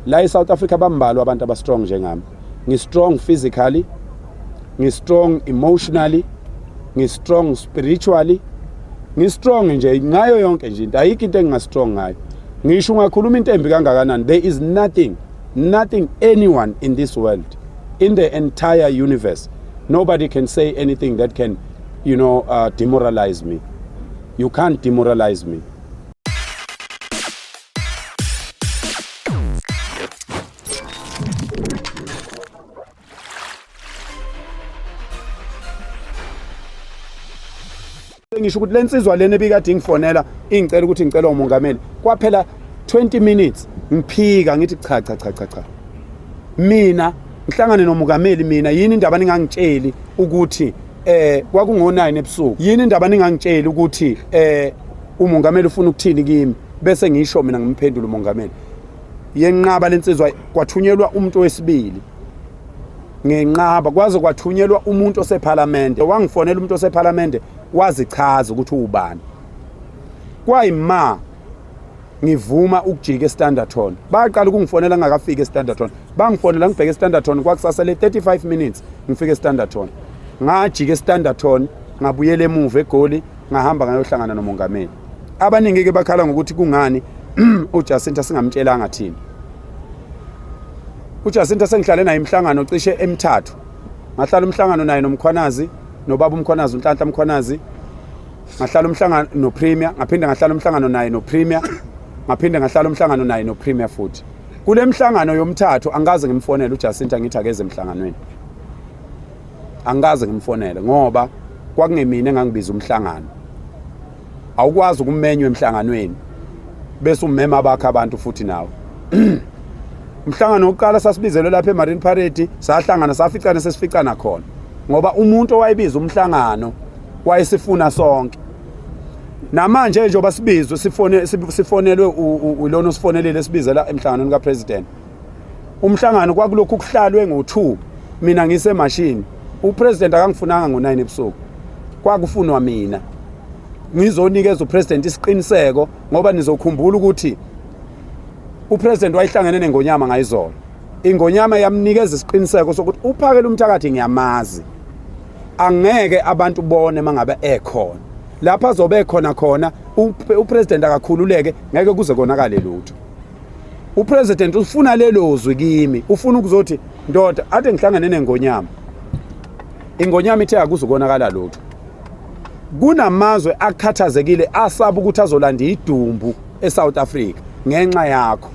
La eSouth Africa bambalwa abantu abastrong njengami. Ngistrong physically, ngistrong emotionally, ngistrong spiritually, ngistrong nje ngayo yonke nje into. Ayikho into engingastrong ngayo. Ngisho ungakhuluma into embi kangakanani, there is nothing, nothing anyone in this world, in the entire universe. Nobody can say anything that can, you know, uh, demoralize me. You can't demoralize me. ngisho ukuthi lensizwa lena ebikade ingifonela ingicela ukuthi ngicela umongameli kwaphela 20 minutes ngiphika ngithi cha cha cha cha cha mina ngihlangane nomukameli mina yini indaba ningangitsheli ukuthi eh kwakungo9 ebusuku yini indaba ningangitsheli ukuthi eh umongameli ufuna ukuthini kimi bese ngisho mina ngimphendula umongameli yenqaba lensizwa kwathunyelwa umuntu wesibili ngenqaba kwaze kwathunyelwa umuntu osephalamende wangifonela umuntu osephalamende wazichaza ukuthi uwubani kwayima ngivuma ukujika estandarton baqala ukungifonela ngingakafiki estandarton bangifonela ngibheke estandarton kwakusasa le 35 minutes ngifike estandarton ngajika estandarton ngabuyela emuva egoli ngahamba ngayohlangana nomongameli abaningi ke bakhala ngokuthi kungani uJacinta singamtshelanga thina uJacinta sengihlale naye imhlangano cishe emithathu ngahlala umhlangano naye nomkhwanazi nobaba umkhwanazi unhlanhla umkhwanazi ngahlala umhlangano nopremier ngaphinde ngahlala umhlangano naye nopremier ngaphinde ngahlala umhlangano naye nopremier futhi kule mhlangano yomthathu angikaze ngimfonele uJacinta ngithi akeze emhlanganweni angikaze ngimfonele ngoba kwakungemina engangibiza umhlangano awukwazi ukumenywa emhlanganweni bese umema abakhe abantu futhi nawe umhlangano wokuqala sasibizelwe lapha emarine parade sahlangana saficane sesificana khona ngoba umuntu owayebiza umhlangano wayesifuna sonke namanje njengoba sibizwe sifonelwe ilona osifonelile esibizela emhlanganweni kapresident umhlangano kwakulokhu kuhlalwe ngo-2 mina ngisemashini upresident akangifunanga ngo-9 ebusuku kwakufunwa mina ngizonikeza upresident isiqiniseko ngoba nizokhumbula ukuthi upresident wayihlangene nengonyama ngayizolo ingonyama yamnikeza isiqiniseko sokuthi uphakela umthakathi ngiyamazi angeke abantu bone mangabe ekhona lapha azobe ekhona khona upresident akakhululeke ngeke kuze konakale lutho upresident ufuna lelo zwi kimi ufuna ukuzothi ndoda ade ngihlangane nengonyama ingonyama ithe akuzukonakala lutho kunamazwe akhathazekile asaba ukuthi azolanda idumbu eSouth Africa ngenxa yakho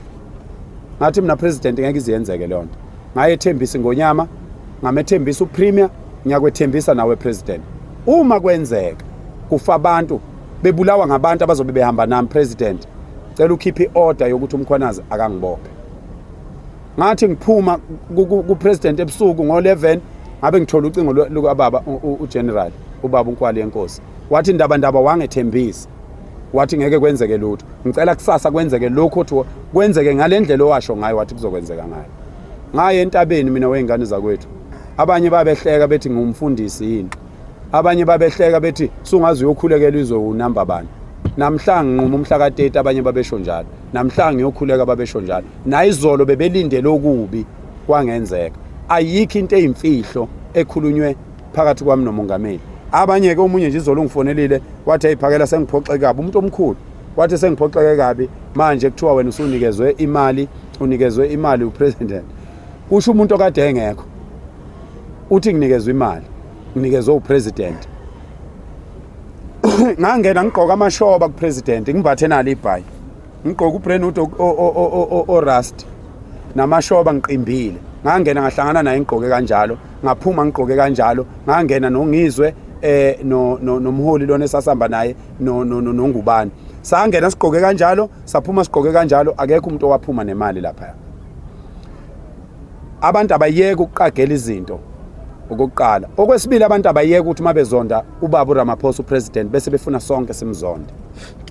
ngathi mina president ngeke iziyenzeke leyo nto ngayethembisa ingonyama ngamethembisa upremier ngiyakwethembisa nawe president uma kwenzeka kufa abantu bebulawa ngabantu abazobe behamba nami president cela ukhiphe i-order yokuthi umkhwanazi akangibophe ngathi ngiphuma kupresident ebusuku ngo-11 ngabe ngithola ucingo lukababa ugeneral ubaba unkwali yenkosi wathi ndaba ndaba wangethembisa wathi ngeke kwenzeke lutho ngicela kusasa kwenzeke lokhu othi kwenzeke ngale ndlela owasho ngayo wathi kuzokwenzeka ngayo ngaye entabeni mina wey'ngane zakwethu abanye babehleka bethi ngumfundisi yini abanye babehleka bethi sungaze uyokhulekela izowunamba bani namhlanje nquma umhla ka-30 abanye babesho njalo namhlanje ngiyokhuleka babesho njalo nayizolo bebelindele okubi kwangenzeka ayikho into eyimfihlo ekhulunywe phakathi kwami nomongameli abanye-ke omunye nje izolo ungifonelile wathi ayiphakela sengiphoxeke kabi umuntu omkhulu wathi sengiphoxeke kabi manje kuthiwa wena usunikezwe imali unikezwe imali upresident kusho umuntu okade engekho uthi nginikezwe imali nginikezwe upresident ngangena ngigqoka amashoba kupresident ngimbathe nalo ibhayi ngigqoka ubrenood orust namashoba ngiqimbile ngangena ngahlangana naye ngigqoke kanjalo ngaphuma ngigqoke kanjalo ngangena nongizwe eh no nomholi lona esasihamba naye no nongubani sangena sigqoke kanjalo saphuma sigqoke kanjalo akekho umuntu owaphuma nemali lapha Abantu abayeke ukuqagela izinto okokuqala. Okwesibili abantu abayeke ukuthi uma bezonda uBabu Ramaphosa uPresident bese befuna sonke simzonde.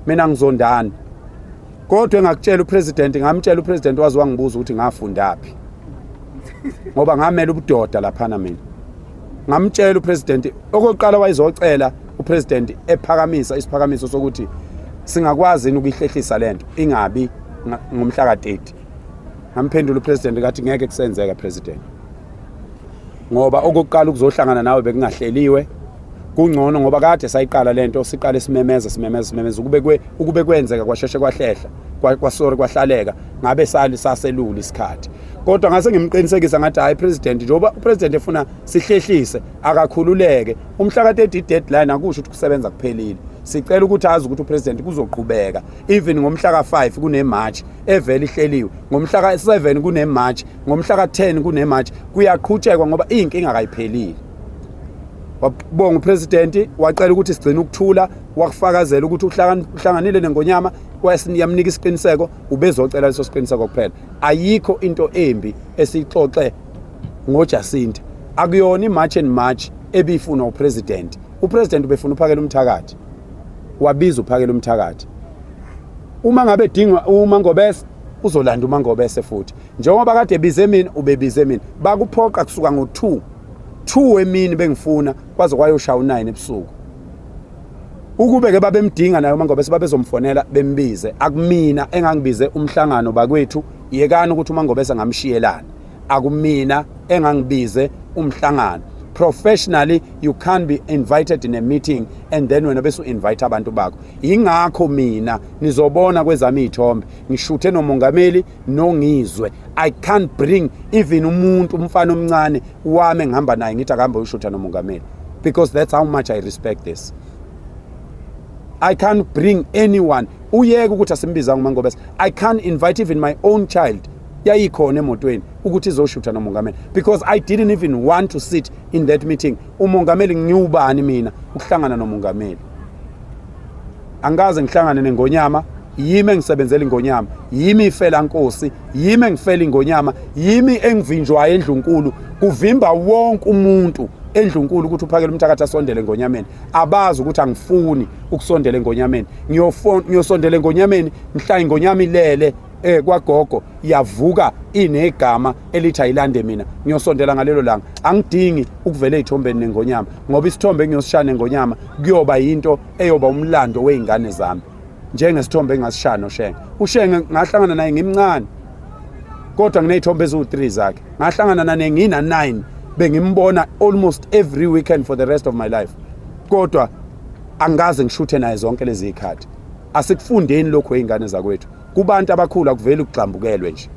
Mina ngizondani. Kodwa engakutshela uPresident ngamtshela uPresident wazi wangibuza ukuthi ngafundaphi. Ngoba ngamela ubudoda laphana mina. Ngamtshela uPresident okokuqala wayezocela uPresident ephakamisa isiphakamiso sokuthi singakwazi ukuyihlehlisa lento ingabi ngomhla ka-30 ngamphendula upresident ngathi ngeke kusenzeka president ngoba okokuqala ukuzohlangana nawe bekungahleliwe kungcono ngoba kade sayiqala lento siqale simemeza simemeza simemeza ukube kwe ukube kwenzeka kwasheshe kwahlehla kwasori kwahlaleka ngabe sali saselula isikhathi kodwa ngase ngimqinisekisa ngathi hayi president njengoba upresident efuna sihlehlise akakhululeke umhla ka 30 deadline akusho ukuthi kusebenza kuphelile sicela ukuthi azi ukuthi upresident kuzoqhubeka even ngomhla ka 5 kune march evele ihleliwe ngomhla ka-7 kunemarch ngomhla ka-10 kunemarch kuyaqhutshekwa ngoba iy'nkinga kayiphelile wabonga upresidenti wacela ukuthi sigcine ukuthula wakufakazela ukuthi uhlanganile nengonyama yamnika isiqiniseko ubezocela leso siqiniseko kuphela ayikho into embi esiyixoxe ngojasinta akuyona imarch and march ebiyifunwa upresidenti upresidenti ubefuna uphakela umthakathi wabiza uphakela umthakathi uma ngabe edinga uMangobese uzolanda uMangobese futhi njengoba kade ebize mina ubebize mina bakuphoqa kusuka ngo-2 2 emini bengifuna kwaze kwayoshaya u-9 ebusuku ukube ke babemdinga naye uMangobese babezomfonela bembize akumina engangibize umhlangano bakwethu yekani ukuthi uMangobese ngamshiyelana akumina engangibize umhlangano professionally you can't be invited in a meeting and then wena bese u-invite abantu bakho yingakho mina nizobona kwezami iy'thombe ngishuthe nomongameli nongizwe i can't bring even umuntu umfana omncane wami engihamba naye ngithi akuhambe ushutha nomongameli because that's how much i respect this i can't bring anyone uyeke ukuthi asimbizanga umangobese i can't invite even my own child yayikhona emotweni ukuthi izoshutha nomongameli because i didn't even want to sit in that meeting umongameli ngiwubani mina ukuhlangana nomongameli angikaze ngihlangane nengonyama yimi engisebenzela ingonyama yimi ifela nkosi yimi engifela ingonyama yimi engivinjwayo endlunkulu kuvimba wonke umuntu endlunkulu ukuthi uphakele umthakathi asondele engonyameni abazi ukuthi angifuni ukusondela engonyameni ngiyosondela engonyameni ngihlaya ingonyama ilele eh kwagogo yavuka inegama elithi ayilande mina ngiyosondela ngalelo langa angidingi ukuvela ezithombeni nengonyama ngoba isithombe engiyosishaya nengonyama kuyoba yinto eyoba umlando weingane zami njengesithombe engasishaya noshenge ushenge ngahlangana naye ngimncane kodwa nginezithombe eziwu3 zakhe ngahlangana nane ngina 9 bengimbona almost every weekend for the rest of my life kodwa angikaze ngishuthe naye zonke lezi zikhathi asikufundeni lokho izingane zakwethu kubantu abakhulu akuveli ukugxambukelwe nje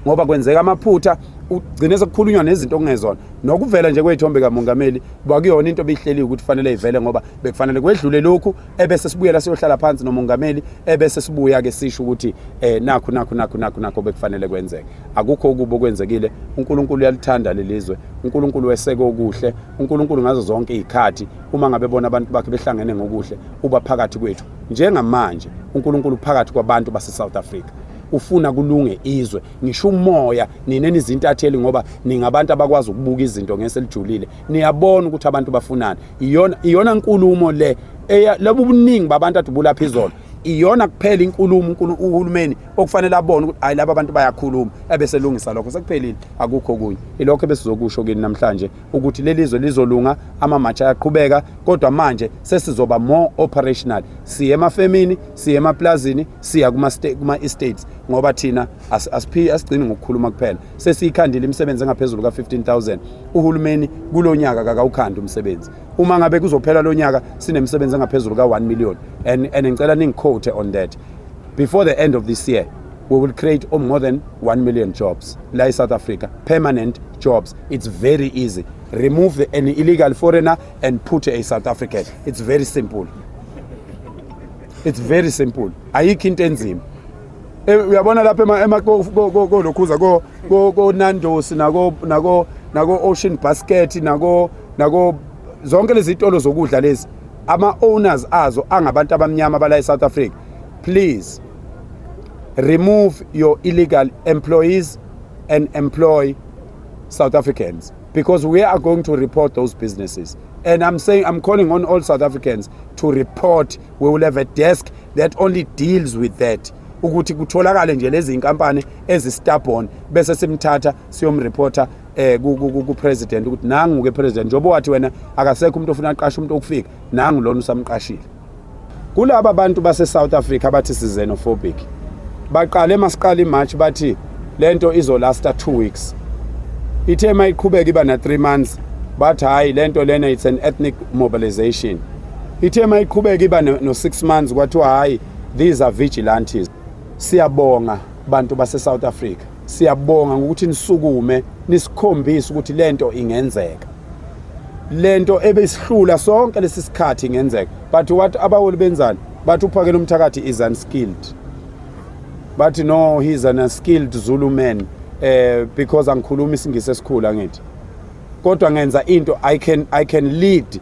ngoba kwenzeka amaphutha ugcine sekukhulunywa nezinto okungezona nokuvela nje kweyithombe kamongameli kwakuyona into ebihleliwe ukuthi fanele ivele ngoba bekufanele kwedlule lokhu ebese sibuyela siyohlala phansi nomongameli ebese sibuya ke sisho ukuthi eh nakho nakho nakho nakho nakho bekufanele kwenzeke akukho ukuba okwenzekile uNkulunkulu uyalithanda lelizwe uNkulunkulu weseke okuhle uNkulunkulu ngazo zonke izikhathi uma ngabe bona abantu bakhe behlangene ngokuhle uba phakathi kwethu Njengamanje uNkulunkulu phakathi kwabantu baseSouth Africa ufuna kulunge izwe ngisho umoya nina nizintatheli ngoba ningabantu abakwazi ukubuka izinto ngese lijulile niyabona ukuthi abantu bafunani iyona iyona nkulumo le lobu buningi babantu adubula phezolo iyona kuphela inkulumo uhulumeni okufanele abone ukuthi hayi laba bantu bayakhuluma ebeselungisa lokho sekuphelile akukho kunye ilokho ebesizokusho kini namhlanje ukuthi leli zwe lizolunga amamatsha ayaqhubeka kodwa manje sesizoba more operational siye emafemini siye emaplazini siya kuma-estates ngoba thina asiphi asigcini ngokukhuluma kuphela sesiyikhandile imisebenzi engaphezulu ka-15000 uhulumeni kulo nyaka kakawukhandi umsebenzi uma ngabe kuzophela lo nyaka sinemisebenzi engaphezulu ka-1 million and, and ngicela ningiquote on that before the end of this year we will create more than 1 million jobs la e-south africa permanent jobs It's very easy. Remove the, an illegal foreigner and put a South African. It's very simple. It's very simple. Ayikho into enzima. Eh, uyabona lapha ema ema ko ko lokhuza ko ko Nando's nako nako nako Ocean Basket nako nako zonke lezi zitolo zokudla lezi ama owners azo angabantu abamnyama bala eSouth Africa. Please remove your illegal employees and employ South Africans because we are going to report those businesses. And I'm saying, I'm calling on all South Africans to report. We will have a desk that only deals with that. ukuthi kutholakale nje lezi inkampani ezistubborn bese simthatha siyomreporter eh ku president ukuthi nangu ke president njobo wathi wena akasekho umuntu ofuna aqasha umuntu okufika nangu lona usamqashile Kulaba bantu base South Africa abathi sizenofobic baqale masiqala iMarch bathi lento izolasta 2 weeks ithe uma iqhubeka iba na 3 months bathi hayi lento lena it's an ethnic mobilization ithe uma iqhubeka iba no 6 months kwathiwa hayi these are vigilantes siyabonga bantu base South Africa Siyabonga ngokuthi nisukume nisikhombise ukuthi lento ingenzeka. Lento ebesihlula sonke lesi sikhathi ingenzeka. But what abaholi benzani? Bathi uphakela umthakathi is unskilled. Bathi no he is an unskilled Zulu man eh because angikhulumi isingisi esikhulu angithi. Kodwa ngenza into I can I can lead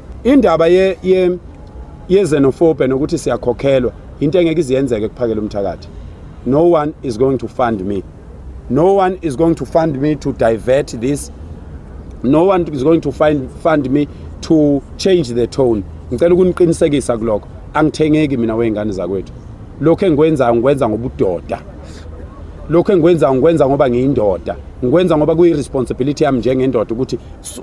Indaba ye, ye yezenofobe nokuthi siyakhokhelwa into engeke iziyenzeke kuphakela umthakathi. No one is going to fund me. No one is going to fund me to divert this. No one is going to find, fund me to change the tone. Ngicela ukuniqinisekisa kuloko. Angithengeki mina weyingane zakwethu. Lokho engikwenzayo ngikwenza ngobudoda. lokho engikwenza ngikwenza ngoba ngiyindoda ngikwenza ngoba kuyi-responsibility yami njengendoda ukuthi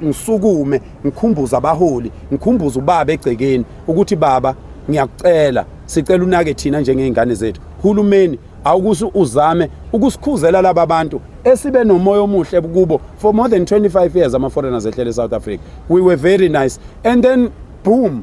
ngisukume ngikhumbuza abaholi ngikhumbuza ubaba egcekeni ukuthi baba ngiyakucela sicela unake thina njengey'ngane zethu hulumeni awukuthi uzame ukusikhuzela laba bantu esibe nomoya omuhle kubo for more than 25 years ama-foreigners ehlele e-south africa we were very nice and then boom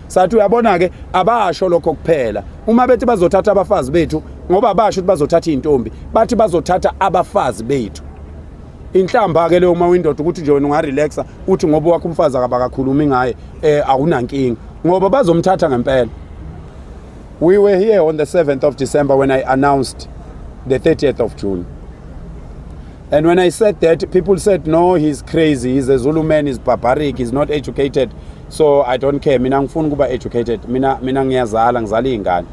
sathi uyabona-ke abasho lokho kuphela uma bethi bazothatha abafazi bethu ngoba basho ukuthi bazothatha iy'ntombi bathi bazothatha abafazi bethu inhlamba-ke leyo uma uyindoda ukuthi nje wena ungarelaxa uthi ngoba wakho umfazi akabakakhulumi ngaye um awunankinga ngoba bazomthatha ngempela we were here on the 7th of december when i announced the 30th of june And when I said that, people said, no, he's crazy. He's a Zulu man. He's barbaric. He's not educated. so i don't care mina ngifuna ukuba educated mina mina ngiyazala ngizala iy'ngane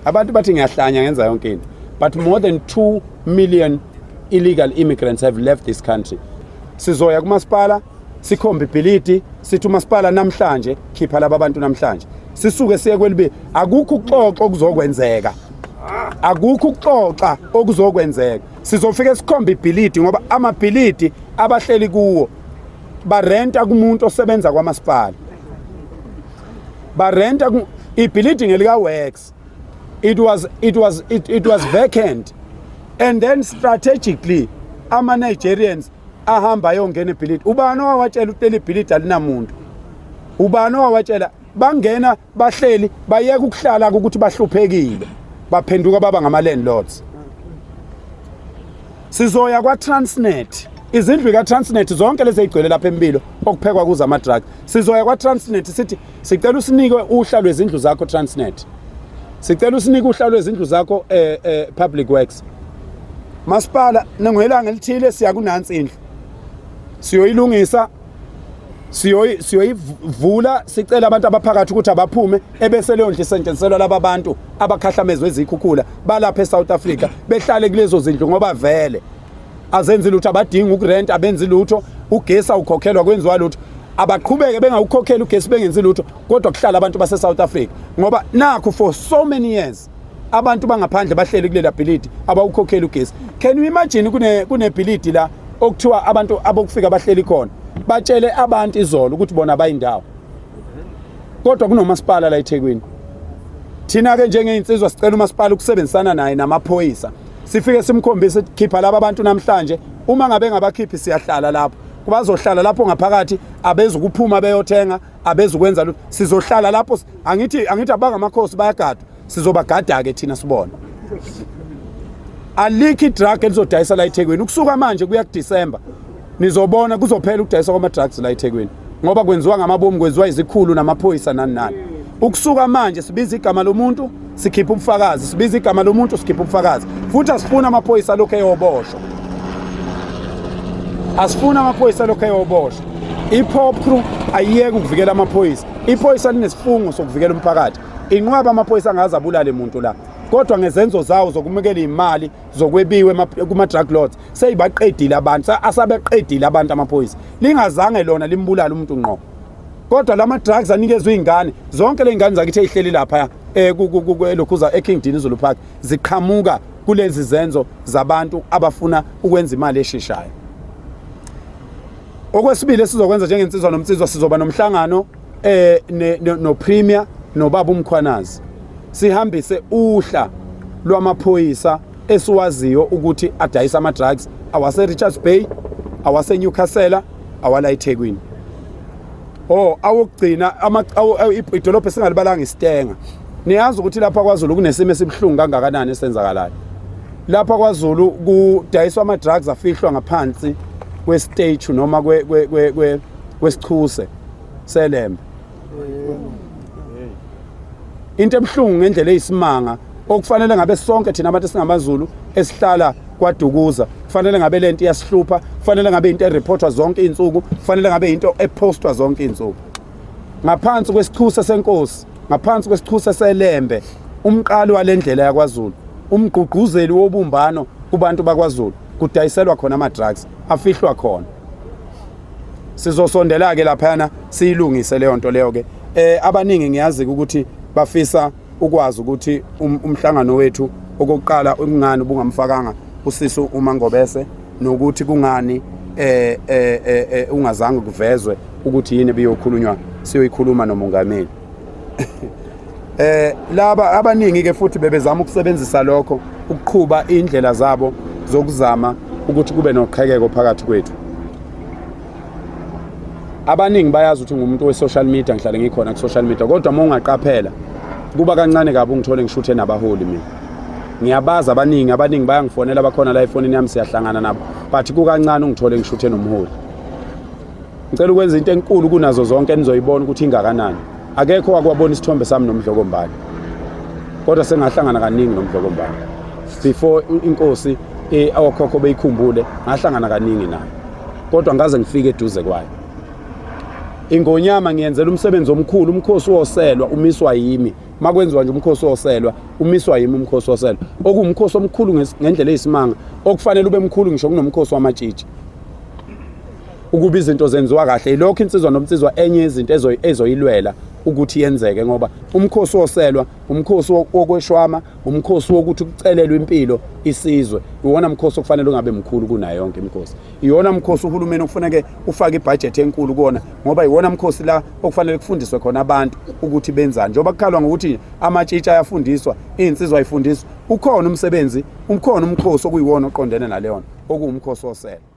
abantu bathi ngiyahlanya ngenza yonke into but more than 2 million illegal immigrants have left this country sizoya kumasipala sikhombe ibhilidi sithi umasipala namhlanje khipha laba bantu namhlanje sisuke siye kwelibi akukho ukuxoxa okuzokwenzeka akukho ukuxoxa okuzokwenzeka sizofike sikhombe ibhilidi ngoba amabhilidi abahleli kuwo barenta kumuntu osebenza kwamasipala barenta ibuilding elika works it was it was it, it was vacant and then strategically ama Nigerians ahamba ayongena ebhilidi ubani owawatshela ukuthi leli bhilidi alinamuntu ubani owawatshela bangena bahleli bayeka ukuhlala ukuthi bahluphekile baphenduka baba ngama landlords sizoya kwa Transnet izindlu ka Transnet zonke lezi ezigcwele lapha empilo okuphekwa kuza ama drug sizoya kwa Transnet sithi sicela usinike uhla lwezindlu zakho Transnet sicela usinike uhla lwezindlu zakho eh, eh public works masipala nengoyelanga elithile siya kunansi indlu siyoyilungisa siyoyi siyoyivula sicela abantu abaphakathi ukuthi abaphume ebese leyo ndlu isetshenziselwa laba bantu abakhahlamezwe izikhukhula balapha eSouth Africa behlale kulezo zindlu ngoba vele azenzi lutho abadingi ukurent abenzi lutho ugesi awukhokhelwa kwenziwa lutho abaqhubeke bengawukhokheli ugesi bengenzi lutho kodwa kuhlala abantu baseSouth Africa ngoba nakho for so many years abantu bangaphandle bahleli kulela bhilidi abawukhokheli ugesi can you imagine kune kunebhilidi la okuthiwa abantu abokufika bahleli khona batshele abantu izolo ukuthi bona bayindawo kodwa kunomasipala la eThekwini thina ke njengeinsizwa sicela umasipala ukusebenzisana naye namaphoyisa sifike simkhombise khipha laba abantu namhlanje uma ngabe ngabakhiphi siyahlala lapho kubazohlala lapho ngaphakathi abezukuphuma beyothenga abezukwenza lutho sizohlala lapho angithi angithi abangamakhosi bayagadwa sizobagada ke thina sibona alikho idrug elizodayisa la eThekwini ukusuka manje kuya kuDecember nizobona kuzophela ukudayisa kwama drugs la eThekwini ngoba kwenziwa ngamabomu kwenziwa izikhulu namaphoyisa nani nani ukusuka manje sibiza igama lomuntu sikhipha ubufakazi sibiza igama lomuntu sikhipha ubufakazi futhi asifuni amaphoyisa lokho eyoboshwa asifuni amaphoyisa lokho eyoboshwa i-pop crew ayiyeke ukuvikela amaphoyisa iphoyisa linesifungo sokuvikela umphakathi inqwaba amaphoyisa angaze abulale muntu la kodwa ngezenzo zawo zokumukela imali zokwebiwe kuma drug lords seyibaqedile abantu asabeqedile abantu amaphoyisa lingazange lona limbulala umuntu ngqo kodwa lama drugs anikezwe izingane zonke lezingane zakithe ihleli lapha eh lokhuza eKing Dinizulu Park ziqhamuka kulezi zenzo zabantu abafuna ukwenza imali esheshayo okwesibili esizokwenza njengensizwa nomnsizwa sizoba nomhlangano eh no premier nobaba umkhwanazi sihambise uhla lwamaphoyisa esiwaziyo ukuthi adayisa ama-drugs awaserichards bay awasenewcastle awala ethekwini o oh, awokugcina idolobha esingalibalanga isitenga niyazi ukuthi lapha kwazulu kunesimo esibuhlungu kangakanani esenzakalayo lapha kwazulu kudayiswa ama-drugs afihlwa ngaphansi kwesitechu noma kwesichuse selembe into ebuhlungu ngendlela eyisimanga okufanele ngabe sonke thina abantu singamaZulu esihlala kwadukuza kufanele ngabe lento iyasihlupha kufanele ngabe into ereportwa zonke izinsuku kufanele ngabe into epostwa zonke izinsuku ngaphansi kwesichusa senkosi ngaphansi kwesichusa selembe umqali walendlela yakwaZulu umgqugquzeli wobumbano kubantu bakwaZulu kudayiselwa khona ama drugs afihlwa khona sizosondela ke laphana siyilungise leyo nto leyo ke eh abaningi ngiyazi ukuthi bafisa ukwazi ukuthi um, umhlangano wethu okokuqala kungani ubungamfakanga usisi uma ngobese nokuthi kungani eh, eh eh eh ungazange kuvezwe ukuthi yini ebiyokhulunywa siyoyikhuluma nomongameli eh laba abaningi ke futhi bebezama ukusebenzisa lokho ukuqhuba indlela zabo zokuzama ukuthi kube noqhekeko phakathi kwethu abaningi bayazi ukuthi ngumuntu we-social media ngihlale ngikhona ku-social media kodwa uma ungaqaphela kuba kancane kabi ungithole ngishuthe nabaholi mina ngiyabazi abaningi abaningi bayangifonela bakhona la efonini yami siyahlangana nabo but kukancane ungithole ngishuthe nomholi Ngicela ukwenza into enkulu kunazo zonke enizoyibona ukuthi ingakanani. Akekho wakwabona isithombe sami nomdlokombane. Kodwa sengahlangana kaningi nomdlokombane. Before inkosi eh awokhokho beyikhumbule ngahlangana kaningi nayo. Kodwa ngaze ngifike eduze kwayo. Ingonyama ngiyenzela umsebenzi omkhulu umkhosi woselwa umiswa yimi makwenziwa nje umkhosi woselwa umiswa yimi umkhosi woselwa okuwumkhosi omkhulu ngendlela eyisimanga okufanele ube mkhulu ngisho kunomkhosi wamatshitshi ukuba izinto zenziwa kahle ilokho insizwa nomnsizwa enye izinto ezoyilwela ukuthi yenzeke ngoba umkhosi woselwa umkhosi wokweshwama umkhosi wokuthi kucelelwe impilo isizwe iwona mkhosi okufanele ungabe mkhulu kunayo yonke imikhosi iwona mkhosi uhulumeni okufanele ufake ibhajethi enkulu kuona ngoba iwona mkhosi la okufanele kufundiswe khona abantu ukuthi benzani njengoba kukhalwa ngokuthi amatshitsha ayafundiswa izinsizwa ayifundiswa ukhona umsebenzi ukhona umkhosi okuyiwona oqondene naleyona okuwumkhosi woselwa